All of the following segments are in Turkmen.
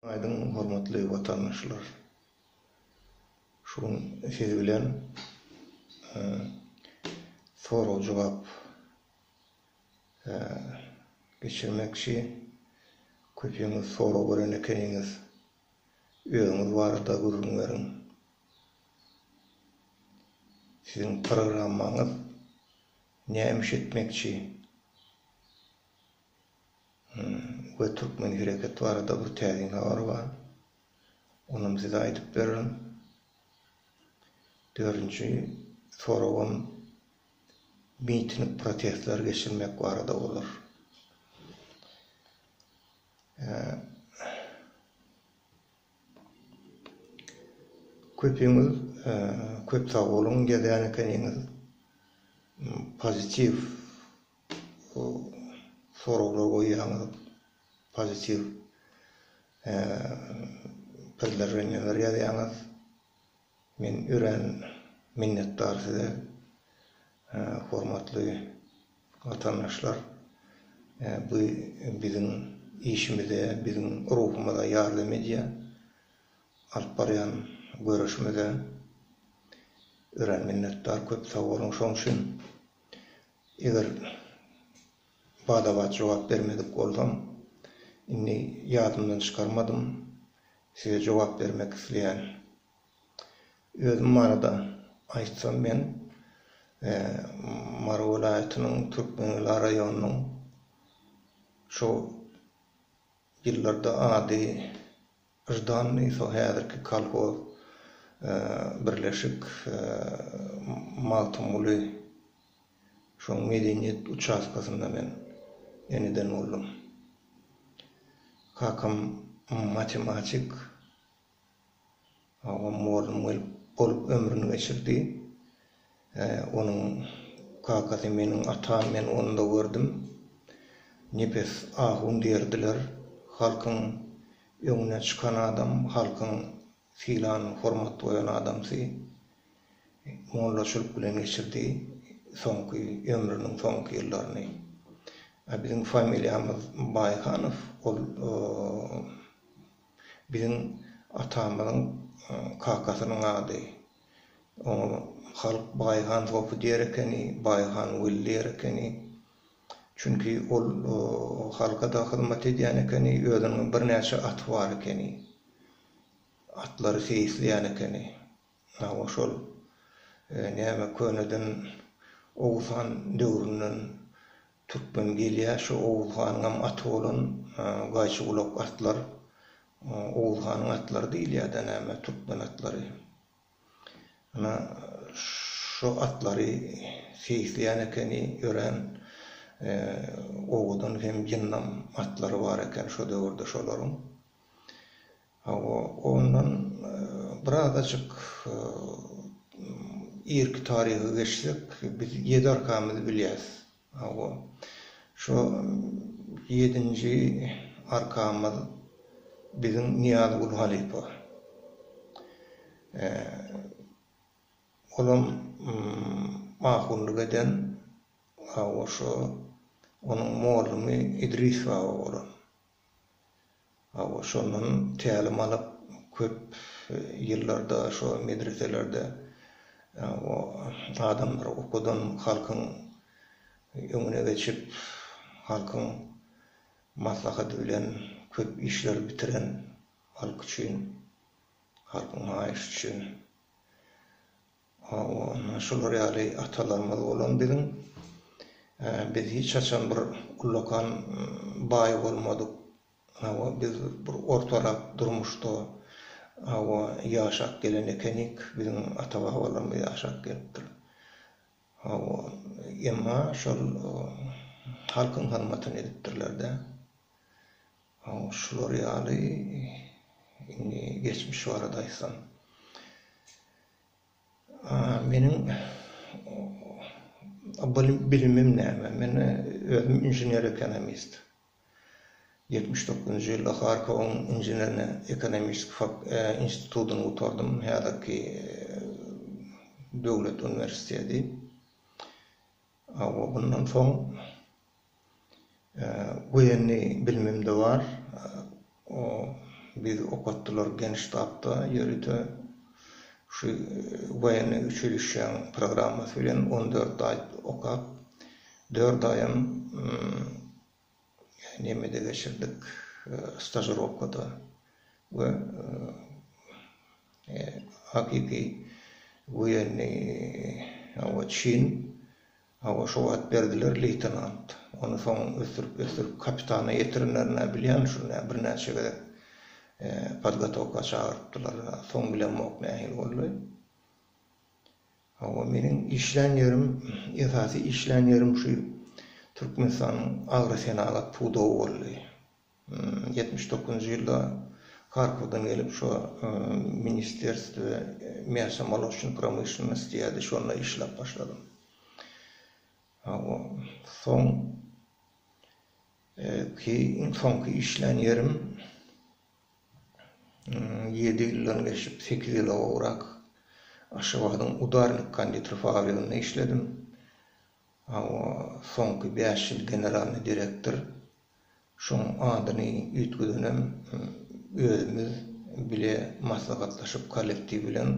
Aýdyň hormatly watandaşlar. Şu gün siz bilen sorag jogap geçirmekçi. Köpiňiz sorag gören ekeniňiz. Özüňiz barada gürrüň beriň. Siziň programmaňyz näme iş etmekçi? we Türkmen hereket barada bir täsin habar bar. Onam size aýdyp bererin. Dördünji soragym miting protestler geçirmek barada bolar. Köpiňiz köp sag boluň gezän ekeniňiz. Pozitiw Bu soraglar goýýaňyz pozitiw predloženiýalar ýazýaňyz. Men örän minnetdar size hormatly watandaşlar. Bu biziň işimize, biziň ruhumyza ýardam edýär. Alyp barýan göreşimize örän minnetdar köp sag boluň şoň üçin. Eger bada-bat jogap bermedik bolsam, indi ýadymdan çykarmadym, size jogap bermek isleýän. Özüm barada aýtsam, men Mary welaýatynyň Türkmengela raýonynyň şo ýyllarda ady Ždannyý so häzirki kolhoz birleşik Magtymguly şoň medeniýet uçastkasynda men eneden boldum. Kakam matematik agam mugallym gelip bolup ömrüni geçirdi. He, onuň kakasy meniň atam, men onda gördüm. Nepes ahun diýerdiler. Halkyň öňüne çykan adam, halkyň sylan, hormat goýan adamsy. Mollaçylyk bilen geçirdi soňky, ömrüniň soňky ýyllaryny. A biziň familiýamyz Baýhanow, ol biziň atamyzyň kakasynyň ady. Oňa halk Baýhan sopy diýer ekeni, Baýhan weli diýer ekeni. Çünki ol halka-da hyzmat edýän ekeni, özüniň birnäçe aty bar ekeni. Atlary seýisleýän ekeni. Hawa, şol näme köneden Oguz han döwründen Türkmen gelýär şu Oguz hanyňam aty bolan gaýçygulak atlar Oguz hanyň atlary diýilýädä näme türkmen atlary. Ana şu atlary seýisleýän ekeni örän Oguzyň hem Jynnam atlary bar eken şo döwürde şolaryň. Hawa, ondan birazajyk irki taryha geçsek, biz ýedi arkamyzy bilýäs. Hawa, şo ýedinji arkamyz biziň Nyýazgül halypa. Olam ahunlyk eden, hawa, şo onuň mollumy Idris baba bolan. Hawa, şondan tälim alyp, köp ýyllarda şo medreselerde o adamlary okudan, halkyň öňüne geçip, halkyň maslahady bilen köp işleri bitiren, halk üçin, halkyň haýyşy üçin. Hawa, şular ýaly atalarymyz bolan biziň. Biz hiç haçan bir ullakan baý bolmadyk. Hawa, biz bir ortarak durmuşda, hawa, ýaşap gelen ekenik. Biziň ata-babalarymyz ýaşap gelipdir. Hawa, emma şol halkyň hyzmatyny edipdirler-dä. Şular ýaly, indi geçmiş barada aýtsam. Meniň bilimim näme? Men özüm inžener-ekonomist. Ýetmiş dokuzynjy ýylda Harkowyň inženerno-ekonomistiki institutyny gutardym, häzirki döwlet uniwersiteti. Hawa, mundan soň woýenniý bilimim-de bar. Bizi okatdylar Genştabda ýörite şu woýenniý uçilişşäň programmasy bilen on dört aý okap, dört aýam Nemede geçirdik, stažirowkada we hakyky woýenniý hawa çyn, hawa şo wagt berdiler leýtenant, ony soň ösdürip-ösdürip kapitana ýetirenlerine bilýän şu nä birnäçe gezek podgotowka çagyrypdylar, soň bilemok nähili boldy. Hawa meniň işlän ýerim esasy işlän ýerim şu Türkmenistanyň agrosenagat pudagy boldy. Ýetmiş dokuzynjy ýylda Harkowdan gelip şo ministerstw miasa molocnýy promyşlennost diýýärdi şonda işläp başladym. Hawa soň ki iň soňky işlän ýerim Ýedi ýyldan geçip, sekiz ýyla gowrak Aşgabadyň Udarnik konditer fabriginde işledim. Hawa, soňky bäş ýyl generalnyý direktor. Şoň adyny üýtgedenem özümiz bile maslahatlaşyp kollektiw bilen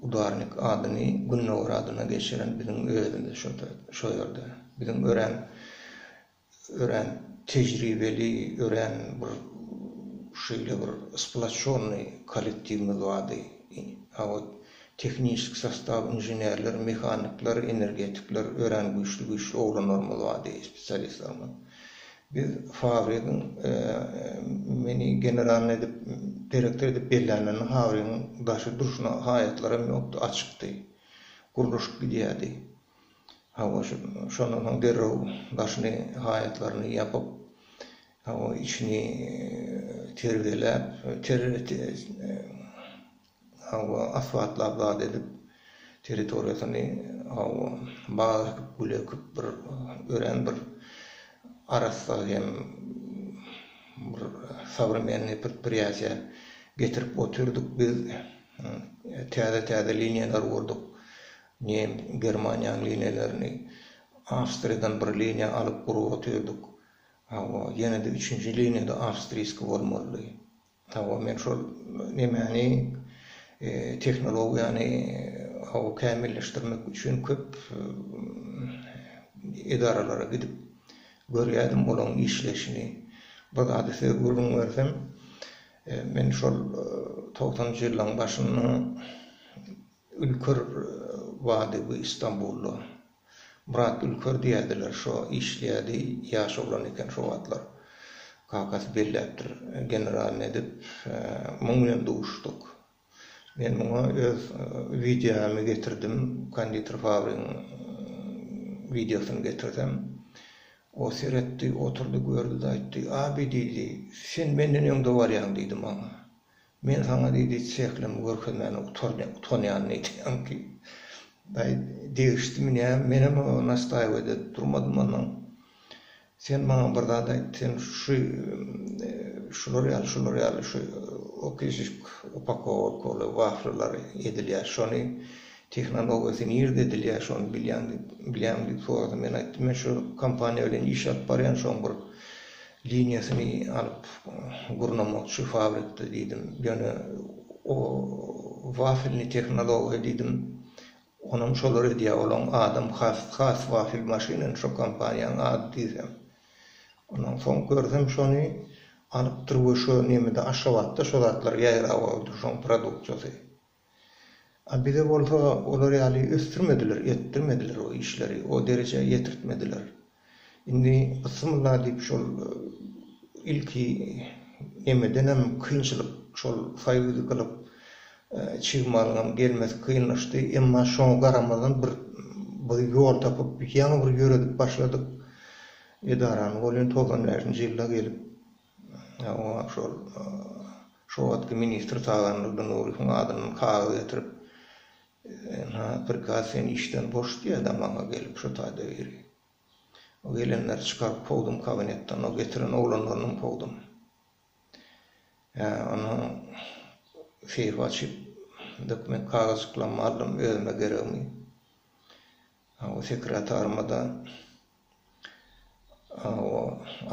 Udarnik adyny Gündogar adyna geçiren biziň özümiz şo ýerde. Biziň örän örän tejribeli, örän bir şeýle bir splaççonnyý kollektiwimiz bardy. A ot tehniçki sostaw, inženerler, mehanikler, energetikler, örän güýçli-güýçli oglanlarymyz bardy, spesialistlerimiz. Biz fabrigiň meni generalnyý edip, direktor edip bellänlerinde fabrigiň daşy durşuna haýatlaram ýokdy, açykdy. Gurluşyp gidýärdi. Hawa, şondan soň derrew daşyny, haýatlaryny ýapyp, hawa, içini terbiýeläp, hawa, asbatlap zat edip, territoriýasyny, hawa, bag ekip, gül ekip, bir örän bir arassa hem bir sowremenniý predpriýatiýa getirip otyrdyk biz. Täze-täze liniýalary gurdyk. Nen, Germaniýanyň liniýalaryny Awstriýadan bir liniýa alyp gurup otyrdyk. Hawa, ýene-de üçünji liniýa-da awstriýski bolmalydy. Hawa, men şol nemäni, tehnologiýany, hawa, kämilleşdirmek üçin köp edaralara gidip görýärdim olaryň işleýşini. Bir zady size gürrüň bersem, men şol togsanynjy ýyllaryň başynda Ülker bady bu Istanbulda. Myrat Ülker diýädiler şo işleýädi ýaş oglan eken şo wagtlar. Kakasy belläpdir generalny edip muň bilen duşduk. Men muňa öz wideomy getirdim konditer fabrigiň wideosyny getirsem o seretdi oturdy gördi-de aýtdy Abi diýdi sen menden öňde barýaň diýdi maňa. Men saňa diýdi, çehlimi görkezmäne utanýan nätýäň diýip. Daýy degişdimi näme, menem oňa nastaýwat edip durmadym onnoň. Sen maňa bir zat aýt, sen şu şular ýaly, şular ýaly şu okişişk upakoworkowly waflylar edilýär, şony tehnologiýasy nirde edilýär, şony bilýäňmi diýip sorady. Men aýtdym, men şu kompaniýa bilen iş alyp barýan, şoň bir Liniýasyny alyp gurnamakçy fabrikde diýdim. Ýöne o wafilni tehnologiýa diýdim. Onam şolar edýär. Olaň adam has has wafil maşyny şo kompaniýanyň ady diýsem. Ondan soň görsem şony alypdyr we şo nemede Aşgabatda şo zatlar ýaýrap aldy şoň produksiýasy. A bize bolsa olar ýaly ösdürmediler, etdirmediler o işleri, o derejä ýetirtmediler. Indi Bismillah diýip şol ilki nemedenem kynçylyk şol soýuzy gylyp çig malyňam gelmesi kynlaşdy, emma şoňa garamazdan bir bir ýol tapyp ýaňy bir ýöredip başladyk edarany, ol ýene togsan bäşinji ýylda gelip Oňa şol şo wagtky ministr Tagan Durdynurowyň adyndan kagyz getirip, ynha, prikaz seni işden boş diýýär damagyňa gelip şo taýda biri. O gelenleri çykaryp kowdum kabinetden, o getiren oglanlarynam kowdum. Ýa, onsoň seýfi açyp, dokument kagyzjyklarymy aldym, özüme geregmi. Hawa, sekretaryma-da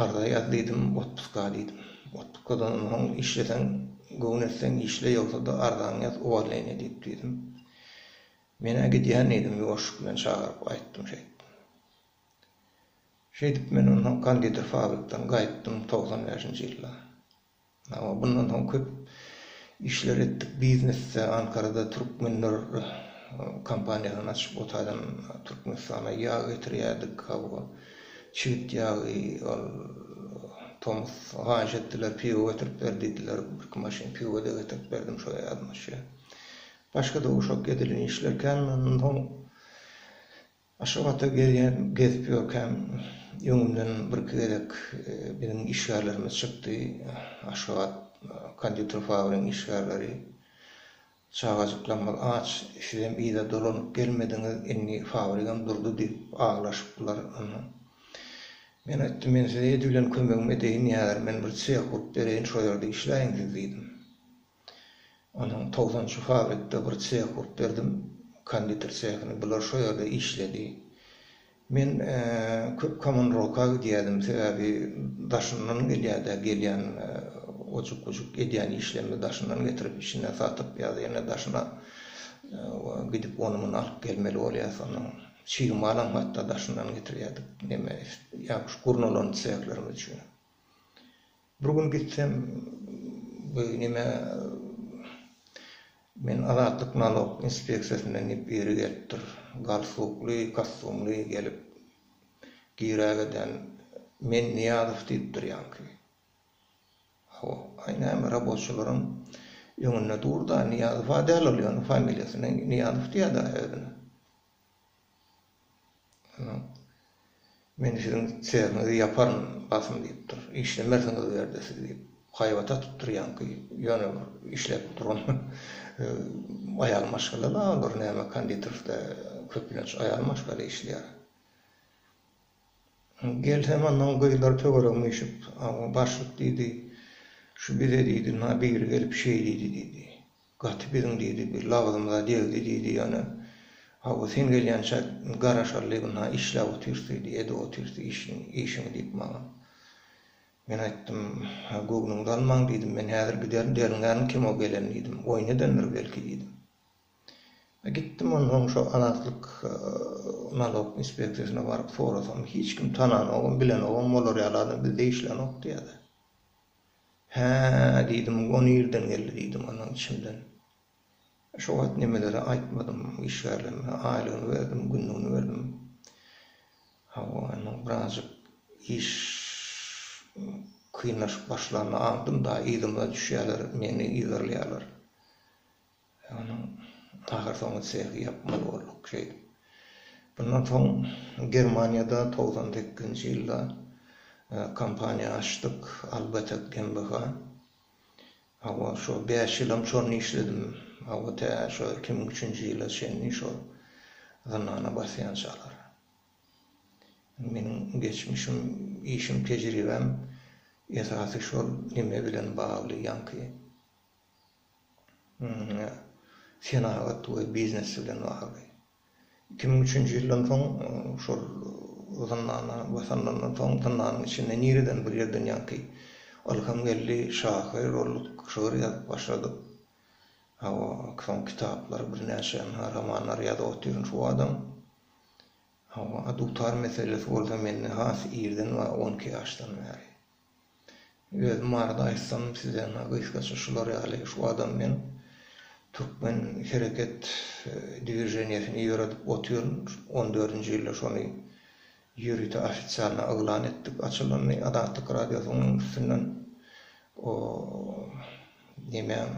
arza ýaz diýdim, otpuska diýdim. Otpuskadan onsoň işleseň, göwün etseň işle, ýogsa-da arzaňy ýaz, uwolneniýa diýip düzdüm. Men-ä gidýän diýdim, ýuwaşlyk bilen çagyryp aýtdym şeýtdim. Şeýdip, men onsoň konditer fabrikden gaýtdym togsan bäşinji ýylda. Hawa, bundan soň köp işler etdik biznesde, Ankarada türkmenler kompaniýasyny açyp, o taýdan Türkmenistana ýag getirýärdik, hawa, çigit ýagy, ol tomus haýyş etdiler, piwo getirip ber diýdiler, birki maşyn piwo-da getirip berdim şo ýazmaça. Başga-da uşak edilen işler kän, ondan soň Aşgabatda gezýän, gezip ýörkäm, öňümden birki gezek biziň işgärlerimiz çykdy. Aşgabat konditer fabrigiň işgärleri, Çagajyklarymyz aç, sizem yza dolanyp gelmediňiz, indi fabrigam durdy diýip aglaşypdylar. Onda men aýtdym, men size edil bilen kömegimi edeýin, ýa men bir çeh gurup bereýin, şo ýerde işläýiň siz diýdim. Onuň togsanynjy fabirikde bir çeh gurup berdim, konditer çehini. Bular şo ýerde işledi. Men köp Komunroka gidýärdim, sebäbi daşyndan gelýärdi-ä, gelýän ojuk-bujuk edýän işlerimizi daşyndan getirip, içinden satyp ýa-da ýene daşyna gidip, ony-muny alyp gelmeli bolýas. Onuň çig malam hatda daşyndan getirýärdik, neme, ýaňky şu gurnalan çehlerimiz üçin. Bir gün gitsem, bu nime, men Azatlyk nalog inspeksiýasyndan diýip biri gelipdir. Galstukly, kostumly gelip girägeden, Men Nyýazow diýipdir ýaňky. Hawa, aý näme, raboçylaryň öňünde dur-da, Nyýazow-a däl ol ýöne, familiýasyny Nyýazow diýýä-dä özüne. Onsoň Men siziň çägiňizi ýaparyn, basym diýipdir. Işlemersiňiz Berde siz diýip, haýbat atypdyr. Ýaňky ýöne bir işläp duran aýal maşgala-la olar, näme konditorsda köplenç aýal maşgala işleýär. Gelsem, onnoň gyzlar töweregime üýşüp, Awa, başlyk diýdi, şu bize diýdi, na biri gelip şeý diýdi diýdi. Gaty biziň diýdi, bir lagzymyza degdi diýdi ýöne. Hawa, sen gelýänçä garaşaly ynha işläp otyrys diýdi, edip otyrys işiň, işiňi diýip maňa. Men aýtdym, ha, göwnüňizi almaň diýdim, men häzir giderin, derňärin kimo gelen diýdim, oýun edendir belki diýdim. A gitdim onsoň şo Azatlyk nalog inspeksiýasyna baryp sorasam, hiç kim tananogam, bilenogam, olar ýaly adam bizde işlänok diýýärler. Hä, diýdim, o nirden geldi diýdim onuň içimden. Şo wagt nemeleri aýtmadym işgärlerime, aýlygyny berdim, günlügini berdim. Hawa, indi birazjyk iş kynlaşyp başlanda aňdym-da, yzyma düşýärler, meni yzarlaýarlar. Onuň ahyrsoňy sehi ýapmaly bolduk şeýdip. Mundan soň Germaniýada togsan sekizinji ýylda kompaniýa açdyk, Albetek GmbH. Hawa, şo bäş ýylam şony işledim. Hawa, tä şo iki müň üçünji ýyla çenli şo zyndana basýançalar. Meniň geçmişim, işim, tejribäm esasy şol neme bilen bagly, ýaňky senagat we biznes bilen bagly. Iki müň üçünji ýyldan soň şol zyndana basanlaryndan soň zyndanyň içinde nireden bir ýerden ýaňky ylham geldi, şahyr olduk, şygyr ýazyp başladyk. Hawa, soň kitaplar, birnäçe romanlar ýazyp otyryn şu badam. Hawa, dutar meselesi bolsa mende has irden bar, on iki ýaşdan bäri. Özüm barada aýtsam sizlerine gysgaça şular ýaly şu adam men Türkmen hereket dwiženiýesini ýöredip otyryn on dördünji ýylda şony ýörite ofisialna yglan etdik açylanyny Azatlyk radiosynyň üstünden o nemäň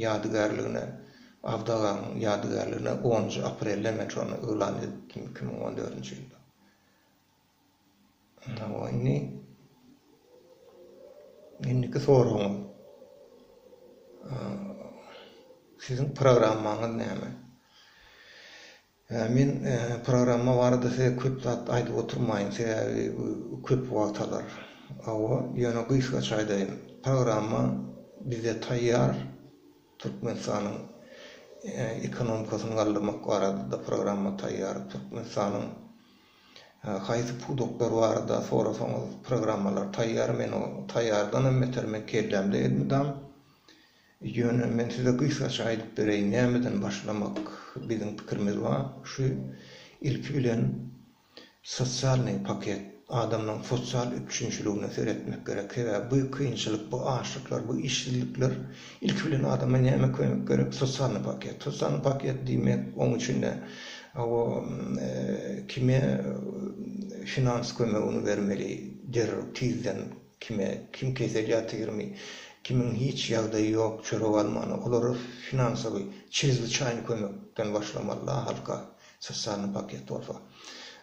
ýadygärligine Abdaganyň ýadygärligine onunjy aprelde men şony yglan edipdim iki müň on dördünji ýylda. Hawa indi indiki soragyň Siziň programmaňyz näme? Men programma barada size köp zat aýdyp oturmaýyn, sebäbi bu köp wagt alar. Hawa, ýöne gysgaça aýdaýyn. Programma bizde taýýar, Türkmenistanyň ekonomikasyny galdyrmak barada-da programma taýýar, Türkmenistanyň Haýsy pudaklar barada sorasaňyz programmalar taýýar men o taýýardanam beter men kellämde elmydam ýöne men size gysgaça aýdyp bereýin nämeden başlamak biziň pikirimiz bar şu ilki bilen sosialnyý paket adamlaň sosial üpjünçiligine seretmek gerek sebäbi bu kynçylyk bu açlyklar bu işsizlikler Ilki bilen adama näme kömek gerek? Sosany paket. Sosany paket diýmek, oň içinde hawa, kime finans kömegini bermeli, derrew, tizden, kime, kim kesel ýatyrmy, kimiň hiç ýagdaýy ýok, çörek almany, olara finansowy, çrezwiçaýny kömekden başlamaly-da halka, sosany paket bolsa.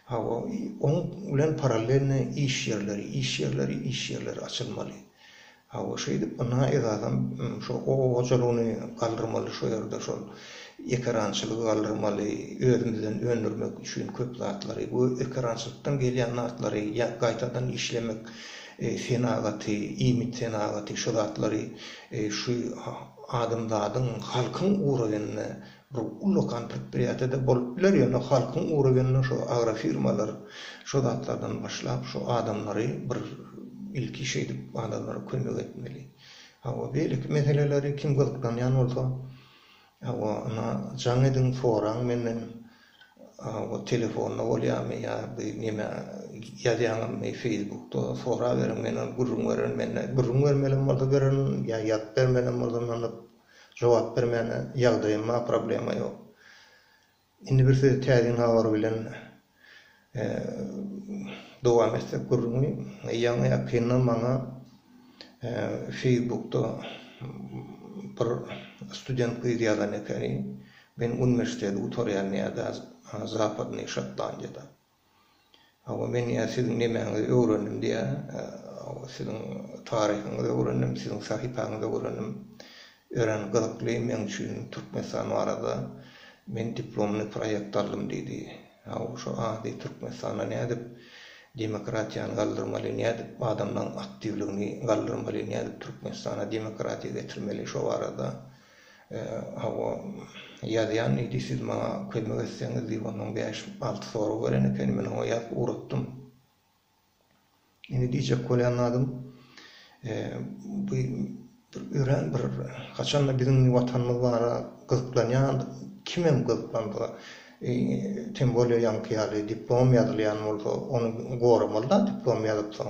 Hawa, oň bilen parallelno iş ýerleri, iş ýerleri, iş ýerleri açylmaly. Hawa şeýdip ynha esasam şo oba hojalygyny galdyrmaly şo ýerde şol ekerançylygy galdyrmaly özümizden öndürmek üçin köp zatlary bu ekerançylykdan gelýän zatlary ýa gaýtadan işlemek senagaty iýmit senagaty şo zatlary şu adamzadyň halkyň ugragynda Bir ullakan predpriýatiýada bolup biler, ýöne halkyň ugra gelende şu agrofirmalar şu zatlardan başlap, şu adamlary bir ilki şeýdip adamlara kömek etmeli. Hawa, beýleki meseleleri kim gyzyklanýan bolsa, hawa, ynha, jaň ediň, soraň menden, hawa, telefonda bolýarmy ýa bir neme ýazýaňyzmy feýsbukda, soraberiň, men ony gürrüň bererin, mende gürrüň bermelem bolsa bererin, ýa ýazyp bermelem bolsa, ynanyp, Jogap bermäne ýagdaýym bar problema ýok. Indi bir siz täsin habar bilen dowam etsek gürrüňi ýaňy ýakynda maňa feýsbukda bir student gyz ýazan ekeni men uniwersiteti gutarýan ýerde zapadnyý şotlandiýada. Hawa, men ýa siziň nemäňizi öwrendim diýýär. Hawa, siziň taryhyňyzy öwrendim, siziň sahypaňyzy öwrendim. Örän gyzykly meň üçin Türkmenistan barada. Men diplomly proýekt aldym diýdi. Hawa, şu ady Türkmenistanda nädip demokratiýany galdyrmaly, nädip adamlaryň aktiwligini galdyrmaly, nädip Türkmenistana demokratiýa getirmeli, şo barada. Hawa, ýazýan diýdi, siz maňa kömek etseňiz diýip ondan bäş-alty sorag beren ekeni, men oňa ýazyp ugratdym. Indi diýjek bolýan zadym, bu bir örän bir haçanda biziň Watanymyz bara gyzyklanýan, kimem gyzyklansa, tem bolýa ýaňky ýaly diplom ýazylýan bolsa, ony goramaly-da, diplom ýazypsoň.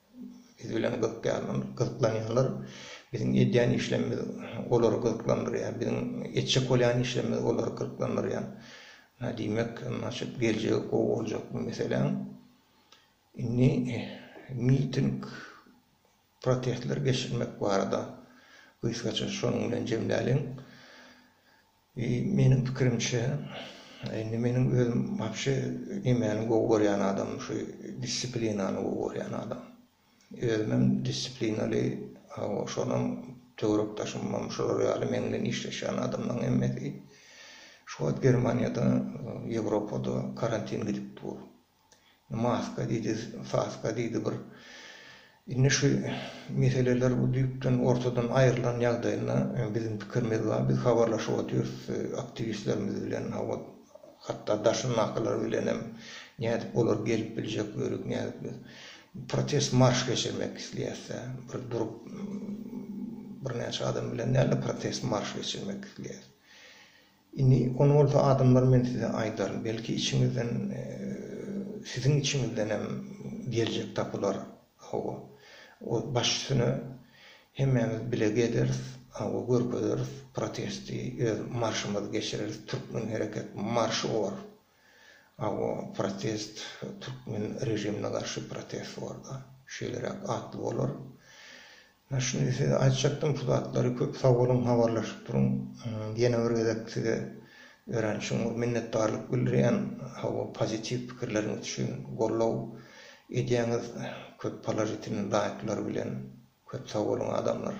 Biz bilen gyzyklanýanlar biziň edýän işlerimiz olary gyzyklandyrýar, biziň etjek bolýan işlerimiz olary gyzyklandyrýar. Diýmek, naçe geljegi gowy boljak bu meseläň. Indi miting, protestler geçirmek barada gysgaça şonuň bilen jemläliň. I meniň pikirimçe, indi meniň özüm wapşe nemäni gowy görýän adamym şu dissiplinany gowy görýän adam. Özümem dissiplinali, hawa, şonam töwerekdaşymam şular ýaly meň bilen işleşýän adamlaryň hemmesi şu wagt Germaniýada, Ýewropada karantin gidip dur. Maska diýdi, saska diýdi bir. Indi şu meseleler bu düýpden ortadan aýrylan ýagdaýynda biziň pikirimiz bar. Biz habarlaşyp otyrys aktiwistlerimiz bilen, hawa, hatda daşyndakylar bilen hem. Nädip olar gelip biljek, ýörük nädip biz protest marş geçirmek isleýäs-dä. Bir durup birnäçe adam bilen däl-de protest marş geçirmek isleýäs. Indi ony bolsa adamlar men size aýdaryn, belki içiňizden siziň içiňizdenem geljek tapylar, hawa, o baş üstüne hemmämiz bile gezeris, hawa, görkezeris, protesti, öz marşymyzy geçireris, türkmen hereket marş bor, hawa, protest, türkmen režimine garşy protest bor-da, şeýleräk atly bolar, Hä şuny size aýtjakdym şu zatlary köp sag boluň habarlaşyp duruň ýene bir gezek size örän çuňňur minnetdarlyk bildirýän hawa pozitiw pikirleriňiz üçin gollow edýäňiz köp položitilny laýklar bilen köp sag boluň adamlar.